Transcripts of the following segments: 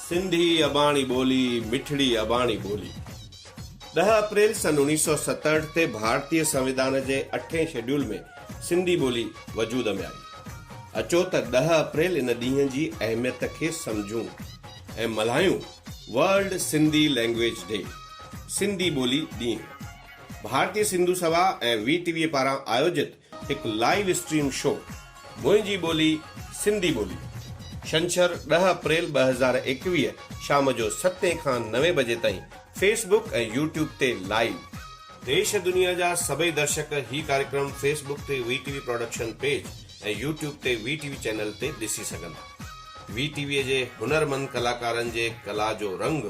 سنڌي اباڻي ٻولي مٺڙي اباڻي ٻولي ڏهه اپريل سن اوڻيهه سؤ ستهٺ تي ڀارتي سنويڌان جي اٺين شيڊيول ۾ سنڌي ٻولي وجود ۾ آئي. اچو ته ڏهه اپريل ان ڏينهن جي اهميت کي سمجهون ۽ ملهايون world Sindhi language day, Sindhi ٻولي ڏينهن. Bharati Sindhu Sabha ۽ V T V پاران آيوجت هڪ لائيو اسٽريم شو منهنجي ٻولي سنڌي ٻولي شنڇر ڏهه اپريل ٻه هزار ايڪويهه شام جو ستين کان نوين بجي تائين فيس بڪ ۽ يوٽيوب تي لائيو. ديش دنيا جا سڀئي درشڪ هي ڪاريڪرم فيس بڪ تي V T V production page ۽ YouTube تي وي ٽي وي چينل تي ڏسي سگهندا. وي ٽي ويء جي هنرمند ڪلاڪارن جي ڪلا جو رنگ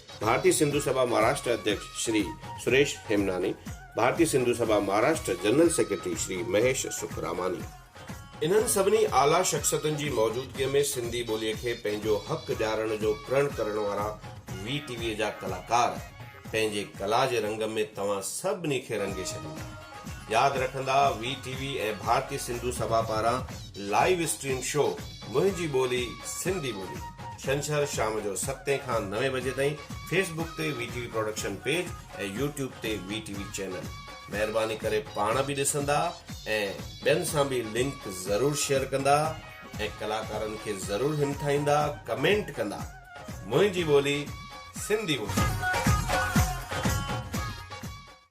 ڀارتي سنڌو سڀا مھاراشٽر اڌيڪش شري سريش ھيمناني، ڀارتي سنڌو سڀا مھاراشٽر جنرل سيڪريٽري شري مھيش سکراماني. انھن سڀني اعليٰ شخصيتن جي موجودگيء ۾ سنڌي ٻوليء کي پنھنجو حق ڏيارڻ جو پرڻ ڪرڻ وارا وي ٽي ويء جا ڪلاڪار پنھنجي ڪلا جي رنگ ۾ توھان سڀني کي رنگي ڇڏيندا. ياد رکندا V T V ۽ Bharati Sindhu Sabha پاران لائيو اسٽريم شو منهنجي ٻولي سنڌي ٻولي ڇنڇر شام جو ستين کان نوين بجي تائين فيس بوڪ تي V T V production page ۽ YouTube تي وي ٽي وي چينل مهرباني ڪري پاڻ به ڏسندا ۽ ٻين سان به لنڪ ضرور شيئر ڪندا ۽ ڪلاڪارن کي ضرور همٿائيندا ڪمينٽ ڪندا منهنجي ٻولي سنڌي ٻولي.